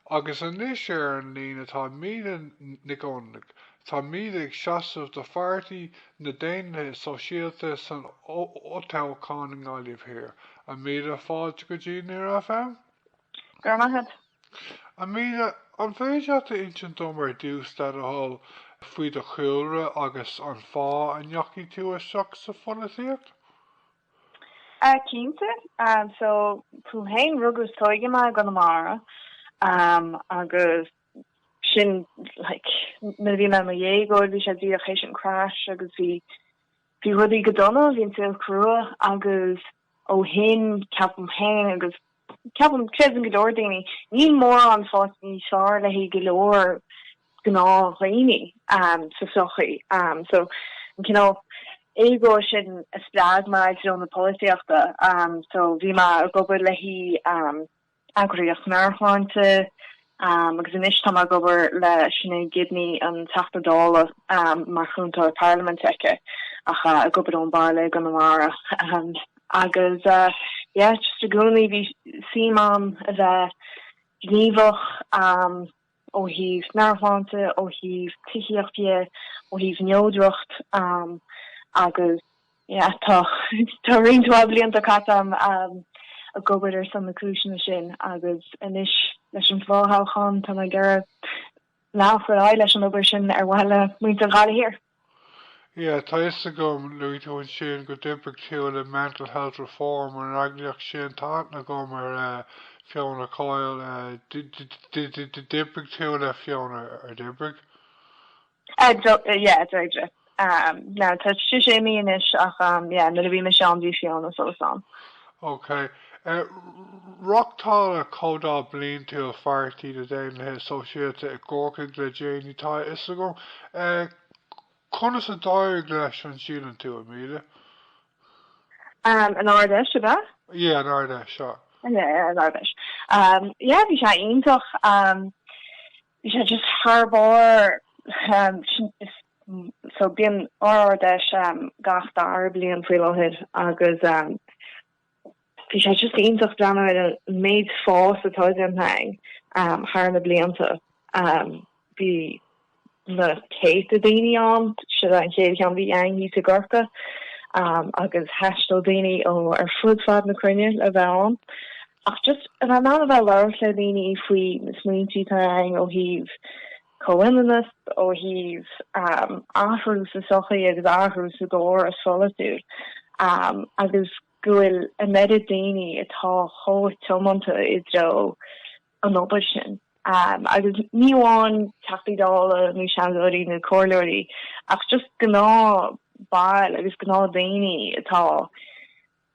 Agus anois ar an líne atá Míde Nic Fhionnlaoich. Tá Míde ag seasamh do Pháirtí na Daonlathaithe Sóisialta san fhothoghchán i nGaillimh Thiar. A Míde, fáilte go dtí Near FM. Go raibh maith agat. A Míde, an féidir leat a insint dom ar dtús le do thoil faoi do chúlra agus an fáth a ndeachaigh tú isteach sa pholaitíocht? Cinnte, so dom fhéin rugadh is tóigeadh mé i gConamara agus sin like nuair a bhí mé i mo dhéagóir bhí sé díreach théis an crash agus bhí bhí rudaí go dona, bhí an saol crua agus ó shin ceapaim fhéin agus Ceapaim, creideann go leor daoine, níl mórán faighte níos fearr le haghaidh go leor gnáthdhaoine sa sochaí. So an cineál éagóir sin a spreag mé i dtreo na polaitíochta. So bhí mé ag obair le haghaidh eagraíocht meabhairshláinte, agus anois tá mé ag obair le Sinéad Gibney, an Teachta Dála, mar chúntóir parlaiminte aici ach ag obair ón bhaile i gConamara. Agus yeah, just i gcónaí bhí suim agam a bheith gníomhach um, ó thaobh meabhairshláinte, ó thaobh tithíocht dhe, ó thaobh neodracht um, agus Yeah, tá, tá roinnt mhaith blianta caite agam ag obair ar son na cúiseanna sin agus anois, leis an bhfothoghchán, tá mé ag iarraidh leanacht ar aghaidh leis an obair sin ar mhaithe le muintir Ghaillimh Thiar. Yeah, tá a fhios agam, luaigh tú ansin, go d'oibrigh tú le mental health reform, an eagraíocht sin, tá aithne agam ar Fiona Coyle, d'oibrigh tú le Fiona, ar d'oibrigh? Yeah, d'oibrigh. Now tá sí imithe anois ach yeah nuair a bhí mise ann bhí Fiona fós ann. Ok. Reáchtáladh comhdháil bliantúil Pháirtí na Daonlathaithe Sóisialta i gCorcaigh le déanaí. Tá a fhios agam. Conas a d'éirigh leis an síleann tú, a Míde? An Ard-Fheis ab ea? Yeah, an Ard-Fheis, sea. Yeah, an Ard-Fheis. Yeah, bhí sé iontach. Bhí sé just thar barr so bíonn ár Ard-Fheis gach dara bliain faoi láthair agus bhí sé just iontach breathnú ar an méid fás atá déanta againn thar na blianta. Bhí na céadta daoine ann, seo an chéad cheann a bhí againn thíos i gCorcaigh agus thaistil daoine ó ar fud fad na cruinne le bheith ann. Ach just in ann a bheith labhairt le daoine faoi na smaointí atá againn ó thaobh comhionannas, ó thaobh athrú sa tsochaí agus athrú sa gcóras polaitiúil agus go bhfuil an méid daoine atá chomh tiomanta i dtreo an obair sin agus ní amháin Teachtaí Dála nó Seanadóirí nó Comhairleoirí ach just gnáthbhaill agus gnáthdhaoine atá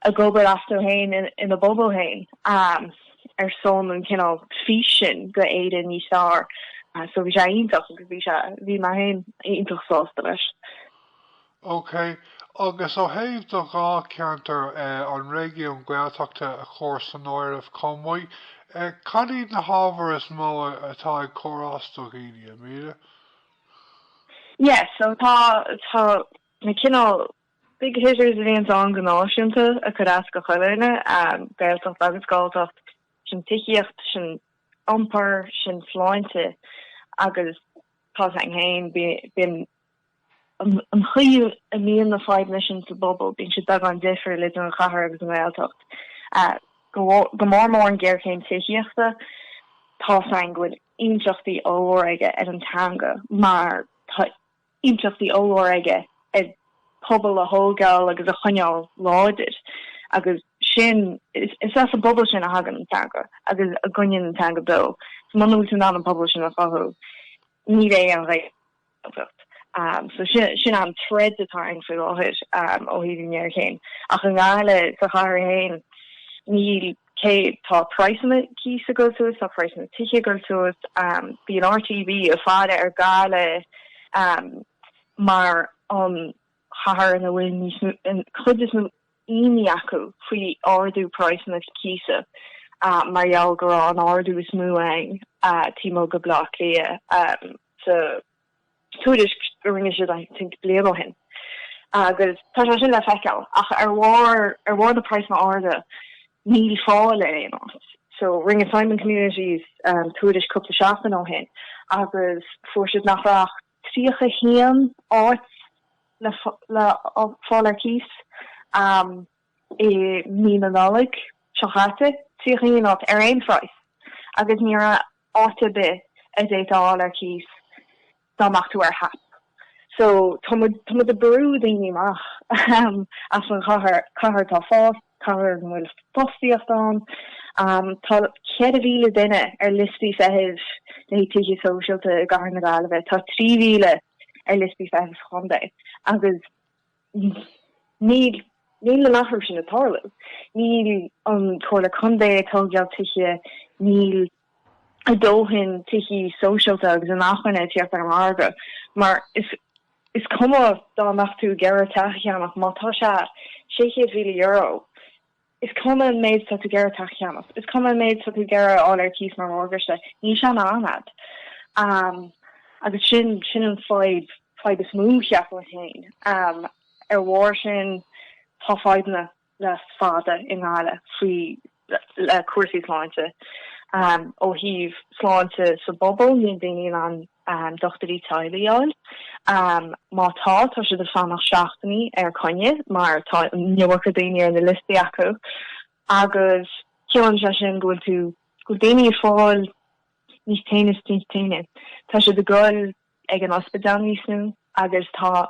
ag obair astu féin ina bpobal féin ar son an cineál fís sin go Éirinn níos fearr. So bhí sé iontach agus bhí sé bhí mé féin iontach sásta leis. Ok, agus ó thaobh do dhá ceantar, an réigiún Gaeltachta a chur san áireamh chomh maith, cad iad na hábhair is mó atá ag cur as do dhaoine, a Mhíde? Yes, so tá tá na cineál Big hitters a bhíonn ann go náisiúnta ag cur as do chuile dhuine, Gaeltacht agus Galltacht, sin tithíocht, sin iompar, sin sláinte agus tá a fhios agam féin, bíonn an chaoi a mbíonn na fadhbanna sin sa bpobal, bíonn siad beagán difriúil idir an chathair agus an Ghaeltacht, go mór mór an ghéarchéim tithíochta. Tá a fhios againn go bhfuil impleachtaí ollmhóra aige ar an teanga mar tá. impleachtaí ollmhóra aige ar pobal a thógáil agus a choinneáil láidir agus sin, is as an bpobal sin a thagann an teanga agus a gcoinníonn an teanga beo. So muna bhfuil tú in ann an pobal sin a chothú, ní bheidh an Ghaeltacht. Um, so sin, sin an threat atá againn faoi láthair um, ó thaobh an ngéarchéim. Ach i nGaillimh sa chathair féin, níl Cé go bhfuil praghsanna cíosa ag goil suas, tá praghsanna tithe ag goil suas. Bhí an RTB ag faire ar Gaillimh mar an chathair ina bhfuil níos mó, an chuid is mó imní acu faoi ardú praghsanna cíosa mar gheall go raibh an ardú is mó ann taobh amuigh de Baile Átha Cliath sa tuairisc a rinne siad I think bliain ó shin agus tá sé sin le feiceáil ach ar bharr ar bharr na praghsanna arda níl fáil ar aon áit. So rinne Simon Communities um, tuairisc cúpla seachtain ó shin agus fuair siad nach raibh ach 31 áit le le fáil ar cíos um, i mí na Nollag seo chaite, 31 áit ar aon phraghas, agus ní raibh áit ar bith a d'fhéadfá a fháil ar cíos dá mbeadh tú ar HAP. So tá muid tá muid ag brú daoine amach, ahem, as an chathair, cathair atá ag fás, cathair ina bhfuil fostaíocht ann. Tá cheithre mhíle duine ar liostaí feithimh le haghaidh tithe sóisialta i gCathair na Gaillimhe, tá trí mhíle ar liostaí feithimh sa chontae, agus. Níl an t-athrú sin ag tarlú. Níl an Chomhairle Contae ag tógáil tithe, níl a dóthain tithí sóisialta agus inacmhainne ag tíocht ar an margadh. Mar is cuma dá mbeadh tú ag iarraidh teach a cheannach, má tá sé €600,000, Is cuma an méid is atá tú ag iarraidh teach a cheannach, is cuma an méid is atá tú ag iarraidh a fháil ar cíos mar mhorgáiste, níl sé in ann iad. Agus sin, sin an fadhb, fadhb is mó, cheapfainn fhéin. Ar bharr sin, tá fadhbanna le fada i nGaillimh faoi, le cúrsaí sláinte. Ó thaobh sláinte sa bpobal, níl daoine in ann. dochtúirí teaghlaigh a fháil. Má tá, tá siad ag fanacht seachtainí ar choinne mar tá an iomarca daoine ar na liostaí acu agus ciallaíonn sé sin go bhfuil tú, go bhfuil daoine ag fáil níos tinne is níos tinne. Tá siad ag dul ag an ospidéal níos mó agus tá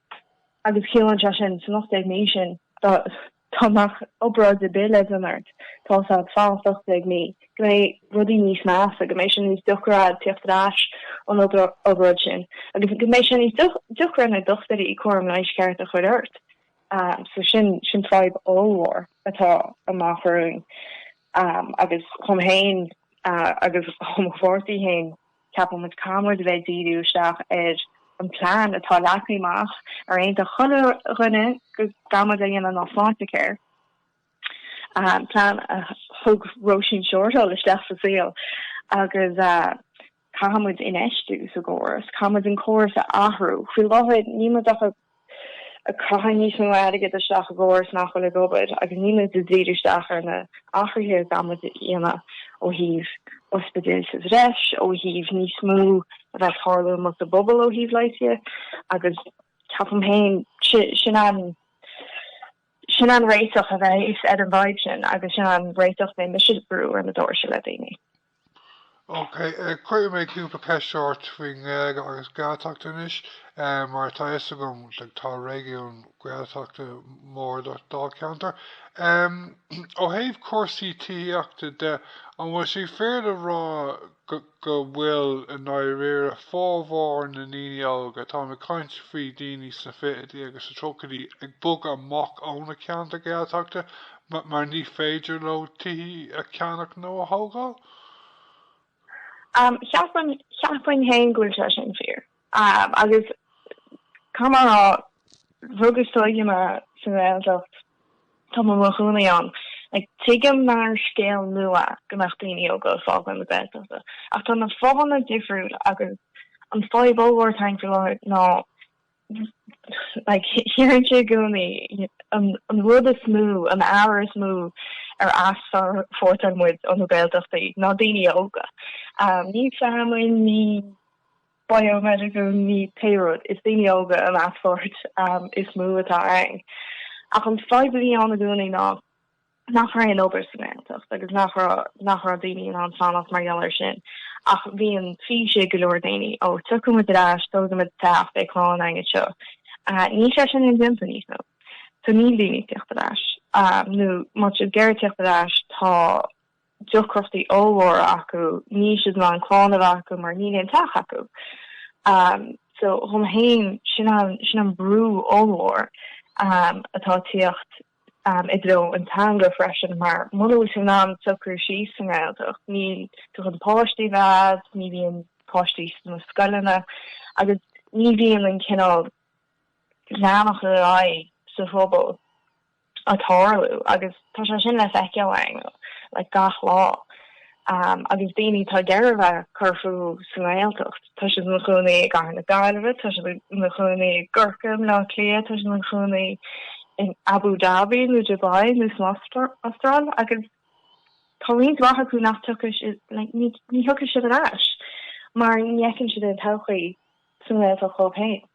Agus ciallaíonn sé sin, san 18 mí sin, dá mbeadh obráid ar bith le déanamh ort, tá sé ag fanacht 18 mí, go mbeidh rudaí níos measa, go mbeidh sé níos deacra agat tíocht ar ais ón obráid sin, agus go mbeidh sé níos deacra ar na dochtúirí cúram leighis ceart a chur ort. So sin sin fadhb ollmhór atá amach romhainn agus dhom fhéin agus dho mo pháirtí fhéin. Ceapann muid caithfidh muid a bheith ag díriú isteach ar an plean atá leagtha amach ar aontaigh chuile dhuine go gcaithfidh muid a dhéanamh ná Sláintecare, plean a thug Róisín Shortall isteach sa saol agus caithfidh muid infheistiú sa gcóras, caithfidh muid an córas a athrú. Faoi láthair níl muid ach ag. Caitheamh níos mó airgid isteach i gcóras nach bhfuil ag obair agus níl muid ag díriú isteach ar na athruithe a gcaithfidh muid a dhéanamh ó thaobh ospidéil sa bhreis, ó thaobh níos mó a bheith ag tarlú amuigh sa bpobal ó thaobh leighis agus ceapaim féin sin an sin an réiteach a bheas ar an bhfadhb sin agus sin an réiteach a mbeidh mise ag brú ar na doirse le daoine. Ok, cuirfidh mé cúpla ceist ort faoin nGaeilge agus Gaeltacht anois, mar tá fhios agam tá réigiún Gaeltachta mór i do Dháilcheantar. Ó thaobh cúrsaí tithíochta de, an bhfuil sé fíor le rá go bhfuil, i ndáiríre, formhór na ndaoine óga, táim ag caint faoi daoine sna fichidí agus sna tríochaidí, ag bogadh amach ó na ceantair Ghaeltachta mar ní féidir leo tithe a cheannach nó a thógáil? Cheapfainn, cheapfainn fhéin go bhfuil sé sin fíor. Agus caithfidh mé a rá, rugadh is tógadh mé sa nGaeltacht, tá mé i mo chónaí ann, like tuigim nach scéal nua go mbeadh daoine óga ag fágáil na Gaeltachta, ach tá na fáthanna difriúil agus an fadhb ollmhór atá againn faoi láthair ná, Deireann sé i gcónaí an rud is mó, an ábhar is mó a easpórtálann muid ó na Gaeltachtaí ná daoine óga. Ní feamainn, ní biomedical, ní pé rud, is daoine óga an easpórtáil is mó atá ann. Ach an fadhb a bhí ann i gcónaí ná, nach raibh aon obair sa nGaeltacht agus nach raibh, nach raibh daoine in ann fanacht mar gheall air sin. Ach bhí an fís ag go leor daoine, ó, tiocfaidh muid ar ais, tógfaidh muid teach, beidh clann againn agus seo. Níl sé sin indéanta, níos mó. Tá níl daoine ag tíocht ar ais, nó má tá siad ag iarraidh tíocht ar ais, tá deacrachtaí ollmhóra acu, níl siad in ann clann a bheith acu mar níl aon teach acu. So, dhom fhéin, sin an, sin an brú ollmhór atá ag tíocht. i dtreo an teanga freisin mar muna bhfuil tú in ann socrú síos sa nGaeltacht níl tú chun páistí a bheith agat, ní bhíonn páistí sna scoileanna agus ní bhíonn an cineál leanacht ar aghaidh sa phobal ag tarlú agus tá sé sin le feiceáil ann le gach lá. Agus daoine atá ag iarraidh a bheith ag cur fúthu sa nGaeltacht, tá siad ina chónaí i gCathair na Gaillimhe, tá siad ina chónaí i gCorcaigh, i mBleá Cliath, tá siad ina chónaí in Abu Dhabi nó Dubai nó san Astráil agus tá roinnt mhaith acu nach dtiocfaidh siad, like, ní, ní thiocfaidh siad ar ais mar ní fheiceann siad aon todhchaí sa nGaeltacht dhóibh féin.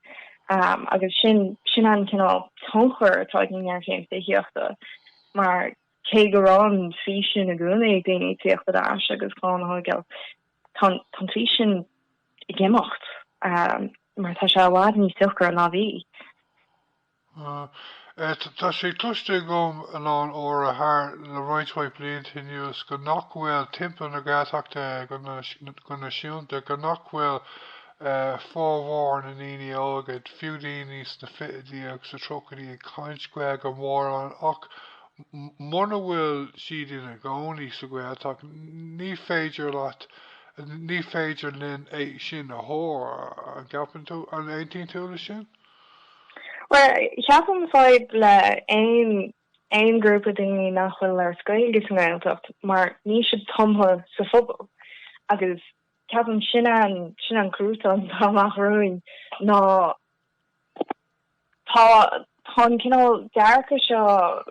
Agus sin, sin an cineál tionchair atá ag an ngéarchéim tithíochta mar. Cé go raibh an fís sin i gcónaí ag daoine, tíocht ar ais agus clann a thógáil, tá an fís sin ag imeacht mar tá sé i bhfad níos deacra ná bhí. Tá sé cloiste agam a lán uaire thar le roinnt mhaith blianta anuas go nach bhfuil timpeall na Gaeltachta go náisiúnta, go nach bhfuil formhór na ndaoine óga, fiú daoine sna fichidí agus sa tríochaidí ag caint Gaeilge mórán ach Muna bhfuil siad ina gcónaí sa Ghaeltacht ní féidir leat, ní féidir linn é sin a thuar, an gceapann tú, an aontaíonn tú le sin? Bhuel, ceapaim fadhb le aon, aon grúpa daoine nach bhfuil ag labhairt Gaeilge sa nGaeltacht mar níl siad tumtha sa phobal agus ceapaim sin an, sin an cruatan atá amach romhainn ná Tá an cineál dearcadh seo,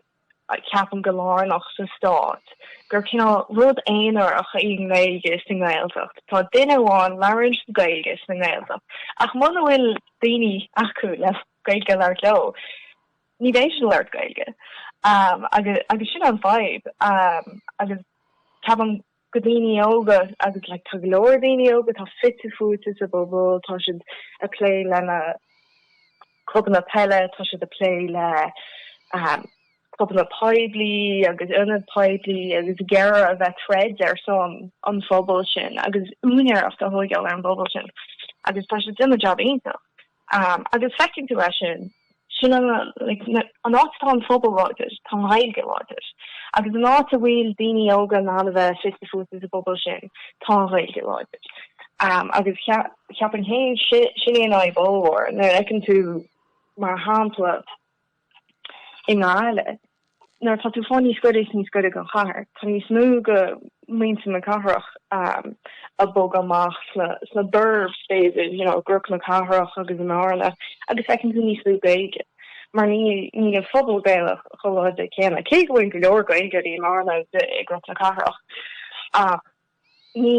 ceapaim, go lárnach sa stát, gur cineál rud aonarach í an Ghaeilge sa nGaeltacht. Tá duine amháin labhraíonn siad Gaeilge sa nGaeltacht, ach muna bhfuil daoine acu le Gaeilge a labhairt leo, ní bheidh siad ag labhairt Gaeilge. Agus sin an fadhb, agus ceapaim. go daoine óga agus like tá go leor daoine óga atá fite fuaite sa bpobal, tá siad a' plé lena clubanna peile, tá siad a' plé le um clubanna poiblí agus ionaid poiblí agus ag iarraidh a bheith troid ar son an phobail sin agus úinéireacht a thóigeáil ar an bpobal sin agus tá siad ag déanamh jab iontach. Agus feiceann tú é sin, sin an, like, na, an áit atá an phobal láidir, tá an Ghaeilge láidir. Agus an áit a bhfuil daoine óga in ann a bheith fite fuaite sa bpobal sin, tá an Ghaeilge láidir. Agus ceapaim féin, si, sin é an fhadhb ollmhór, nuair a fheiceann tú, mar shampla, I nGaillimh, nuair atá tú ag fáil níos gaire is níos gaire don chathair, tá níos mó de mhuintir na cathrach um, a bogadh amach sna, sna burbs, b'fhéidir, you know, i gCnoc na Cathrach agus i mBearna, agus feiceann tú níos lú Gaeilge. Mar ní, níl an phobal Gaelach chomh láidir céanna. Cé go bhfuil go leor Gaeilge i mBearna, i gCnoc na Cathrach, ach ní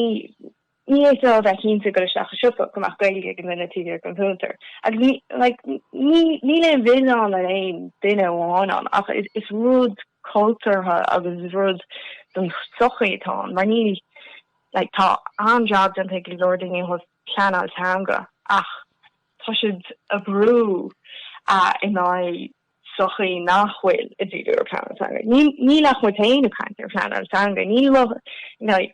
Ní fhéadfá a bheith cinnte ag goil isteach i siopa go mbeadh Gaeilge ag an duine taobh thiar den chuntar. Agus níl aon mhilleán ar aon duine amháin ann ach is rud cultúrtha agus is rud den tsochaí atá ann mar níl Tá an-jab déanta ag go leor daoine ó thaobh pleanáil teanga ach tá siad a' brú in aghaidh sochaí nach bhfuil ag díriú ar phleanáil teanga. Níl ach muid féin ag caint ar phleanáil teanga,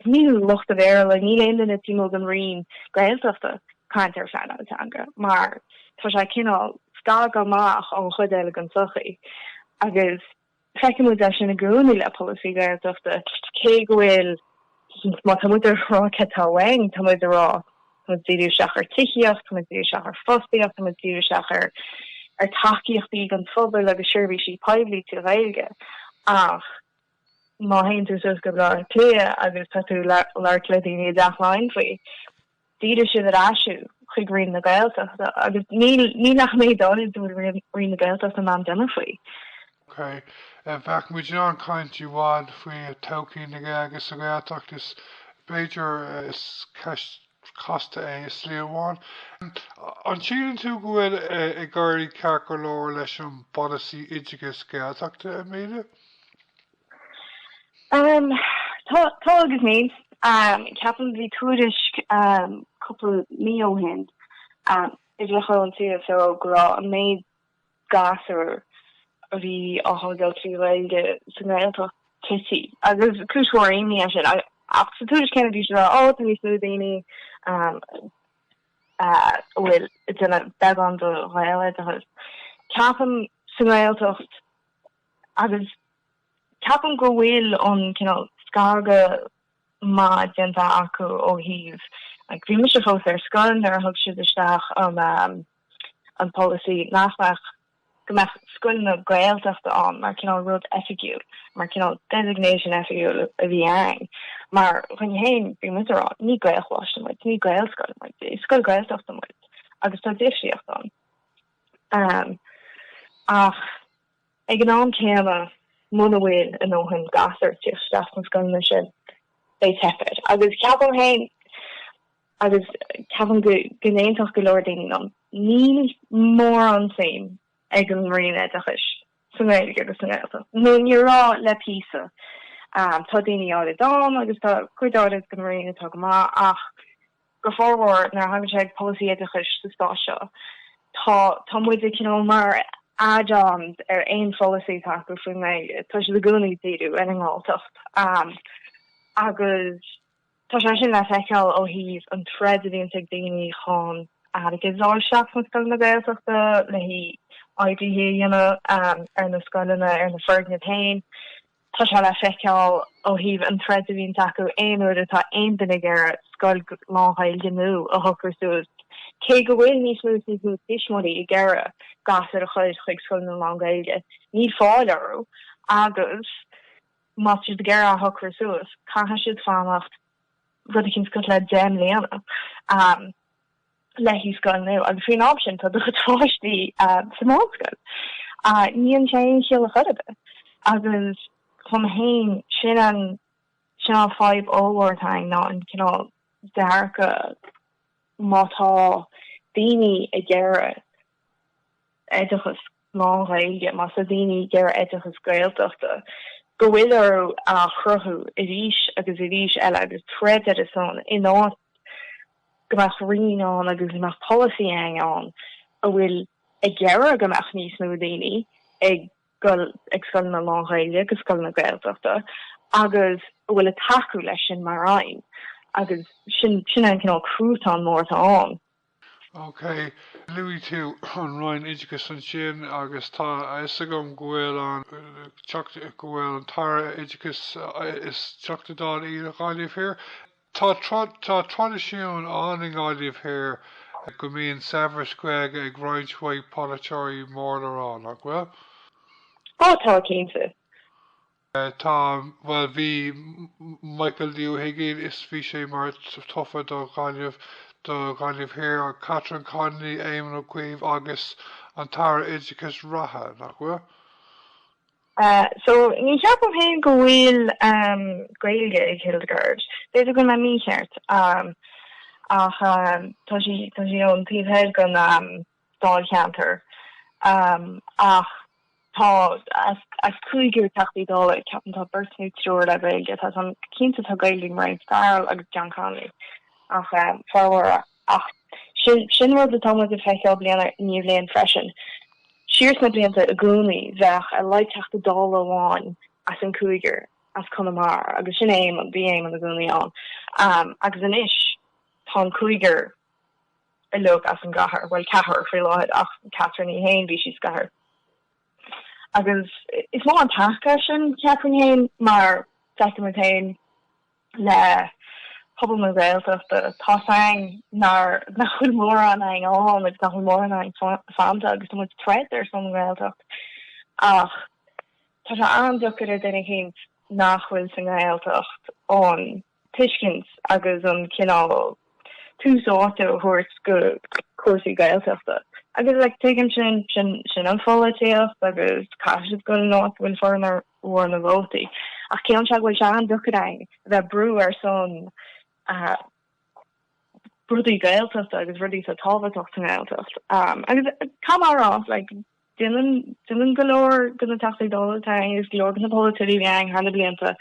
níl lucht an Bhéarla, níl aon duine taobh amuigh den roinn Gaeltachta ag caint ar phleanáil teanga mar tá sé cineál scartha amach ón chuid eile den tsochaí agus feiceann muid é sin i gcónaí le polasaí Gaeltachta cé go bhfuil Má tá muid ag rá céard tá uainn, tá muid ag rá, tá muid díriú isteach ar tithíocht, tá muid díriú isteach ar fostaíocht, tá muid díriú isteach ar tacaíochtaí don phobal agus seirbhísí poiblí trí Ghaeilge. Ach má théann tú suas go Baile Átha Cliath agus tá tú ag labhairt le daoine i dTeach Laighean faoi, Díreoidh siad ar ais thú chuig Roinn na Gaeltachta agus níl ach méid áirid go bhfuil Roinn na Gaeltachta in ann déanamh faoi. OK. Bheadh muid in ann caint i bhfad faoi todhchaí na Gaeilge sa Ghaeltacht. Is b'fhéidir is ceist chasta é i slí amháin. An síleann tú go bhfuil ag éirí ceart go leor leis an bpolasaí oideachais Gaeltachta, Amelia? Tá, tá agus níl. Ceapaim bhí tuairisc cúpla mí ó shin a chuir an CSO go raibh an méid gasúr a bhí á thógáil trí Ghaeilge sa nGaeltacht tití, agus cúis mhór imní é sin. Ach sa tuairisc céanna bhí siad á rá, Ó, tá níos lú daoine a bhfuil duine beagán de Ghaeloideachas. Ceapaim sa nGaeltacht Agus ceapaim go bhfuil ón cineál scagadh maith déanta acu ó thaobh, like, bhí mise fós ar scoil nuair a thug siad isteach an um, an polasaí nach mbeadh go mbeadh scoileanna Gaeltachta ann mar cineál rud oifigiúil, mar cineál designation oifigiúil a bhí ann. Mar dhúinn féin, bhí muid a rá, ní Gaelcholáiste muid, ní Gaelscoil muid, is scoil Gaeltachta muid agus tá difríocht ann. Um, ach Ag an am céanna, muna bhfuil a ndóthain gasúr ag teacht isteach sna scoileanna sin, beidh teip air. Agus ceapaim féin, agus ceapaim go n-aontódh go leor daoine liom, níl mórán suim ag an Roinn Oideachais sa nGaeilge agus sa nGaeltacht. Nó ní raibh le píosa. Tá daoine áirid ann, agus tá cuid áirid den Roinn atá go maith, ach. go formhór nuair a thagann sé ag polasaí oideachais sa stát seo. Tá tá muid ag cineál mar add-ons ar aon pholasaí atá acu faoin nGaeilge. Tá siad i gcónaí díriú ar an nGalltacht um, agus tá sé sin le feiceáil ó thaobh an troid a bhíonn ag daoine chun airgead a fháil isteach sna scoileanna Gaeltachta le haghaidh é a dhéanamh um, ar na scoileanna ar na foirgnimh féin. Tá sé le feiceáil ó thaobh an troid a bhíonns acu aon uair atá aon duine ag iarraidh scoil lánGhaeilge nua a shocrú suas, cé go bhfuil níos mó is níos mó tuismitheoirí ag iarraidh gasúir a chur chuig scoileanna lánGhaeilge. Níl fáil orthu agus má tá siad ag iarraidh a shocrú suas, caithfidh siad fanacht rud éicint suas le deich mbliana. le haghaidh scoil nua agus faoin am sin tá do chuid páistí sa mheánscoil. Ní dhéanann sé aon chiall ar chor ar bith agus dhom féin sin an sin an fadhb ollmhór atá againn ná an cineál dearcadh má tá daoine ag iarraidh oideachas lán-Ghaeilge, má tá daoine ag iarraidh oideachas Gaeltachta, go bhfuil orthu a chruthú arís agus arís eile agus troid ar a son in áit go mbeadh roinn ann agus go mbeadh polasaí againn a bhfuil ag iarraidh go mbeadh níos mó daoine ag dul ag scoileanna lán-Ghaeilge agus scoileanna Gaeltachta agus a bhfuil ag tacú leis sin mar aidhm agus sin sin an cineál cruatán mór atá ann. OK, luaigh tú an Roinn Oideachais ansin agus tá a fhios agam go bhfuil an teacht go bhfuil an tAire Oideachais is Teachta Dála í do Ghaillimh Thiar. Tá tá traidisiún ann i nGaillimh Thiar go mbíonn saibhreas Gaeilge ag roinnt mhaith polaiteoirí mór le rá, nach bhfuil? Tá, tá, cinnte. Tá, bhuel, bhí Michael D. Ó hUiginn, is bhí sé mar tofa do Ghaillimh, do Ghaillimh Thiar, Catherine Connolly, Éamon Ó Cuív agus an tAire Oideachais reatha, nach bhfuil? So, ní cheapaim fhéin go bhfuil Gaeilge ag Hildegarde. B'fhéidir go bhfuil mé mícheart, ach tá sí, tá sí ón taobh thoir den. dáilcheantar ach tá as cúigear Teachtaí Dála ceapaim, tá beirt nó triúr le Gaeilge, tá san cinnte tá Gaeilge ag Mairéad Farrell agus John Connolly ach formhór ach sin rud atá muid ag feiceáil bliain i ndiaidh bliain freisin, siar sna blianta i gcónaí bheadh ar a laghad Teachta Dála amháin as an cúigear as Conamara agus sin Éamonn, bhí Éamonn i gcónaí ann agus anois tá an cúigear. uilig as an gcathair, bhuel, ceathrar faoi láthair ach Catherine í fhéin, bhí sí sa gcathair. Agus is mór an taca sin, cheapfainn fhéin, mar feicim muid fhéin le pobal na Gaeltachta, tá's againn nár, nach bhfuil mórán againn ann agus nach bhfuil mórán againn fanta agus tá muid ag troid ar son an Ghaeltacht ach tá sé an-deacair ar duine éicint nach bhfuil sa nGaeltacht an tuiscint agus an cineál tús áite a thabhairt go cúrsaí Gaeltachta. Agus like tuigim sin, sin an pholaitíocht agus caithfidh siad goil in áit a bhfuil formhór na vótaí. Ach ceapaim go bhfuil sé an-deacair a bheith brú ar son rudaí Gaeltachta agus rudaí atá tábhachtach sa nGaeltacht? Agus Conamara like Déanann go leor de na Teachtaí Dála tarraing agus go leor de na polaiteoirí againn thar na blianta.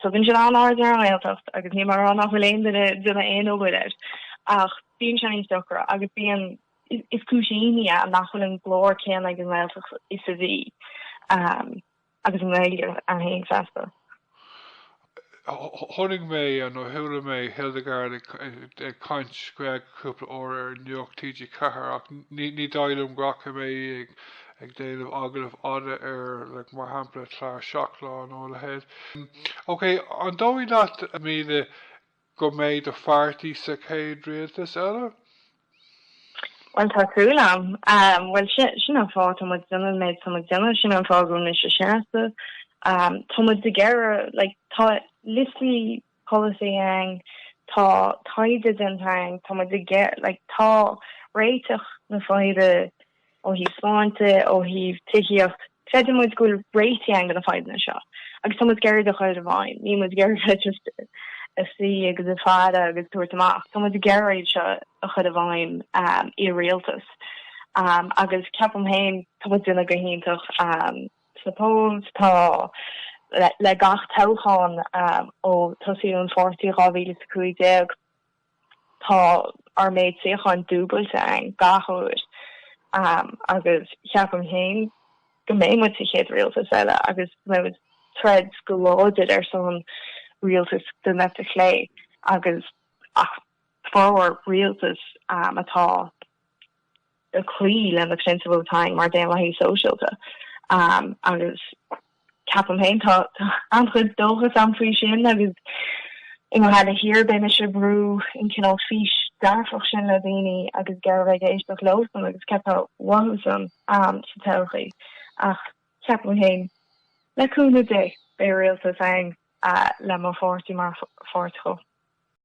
Tugann siad an-aird ar an nGaeltacht agus ní mar gheall nach bhfuil aon duine déanamh aon obair air. Ach bíonn sé níos deacra agus bíonn, is cúis imní é nach bhfuil an glór céanna ag an nGaeltacht is a bhí. agus an Ghaeilge ann fhéin feasta. Tháinig mé, nó chuala mé Hildegarde ag caint Gaeilge cúpla uair ar Nuacht TG4, ach ní dóigh liom go bhfaca mé í ag déanamh agallamh fhada ar like mar shampla clár seacht lá nó a leithéid. OK, an dóigh leat míle go mbeidh do pháirtí sa chéad rialtas eile? Bhuel, tá súil agam. Bhuel, sin an fáth atá muid déanamh an méid atá muid déanamh, sin an fáth go bhfuil mise seasamh. Tá muid ag iarraidh, like, tá liostaí polasaí againn, tá taighde déanta againn, tá muid ag iarr-, like, tá réiteach na faidhbe Ó thaobh sláinte, ó thaobh tithíocht, creideann muid go bhfuil réitigh ann do na fadhbanna seo agus tá muid ag iarraidh iad a chur i bhfeidhm. Níl muid ag iarraidh just ag suí agus ag faire agus tabhairt amach. Tá muid ag iarraidh iad seo a chur i bhfeidhm i rialtas agus ceapaim féin tá muid ag déanamh go hiontach sna polls. Tá le gach toghchán ó tosaíodh an pháirtí i 2015. Tá ár méid suíocháin dúbailte ann gach uair agus ceapaim féin go mbeidh muid sa chéad rialtas eile agus beidh muid ag troid go láidir ar son rialtas den eite chlé agus ach formhór rialtas atá ag cloí le na prionsabail atá againn mar Dhaonlathaithe Sóisialta agus ceapaim féin tá an-chuid dóchas ann faoi sin agus i nGaillimh Thiar beidh mise ag brú an cineál fís dearfach sin le daoine agus ag iarraidh a bheith ag éisteacht leosan agus céard atá uathusan sa todhchaí ach ceapaim féin le cúnamh Dé beidh rialtas ann le mo pháirtí mar pháirt dhó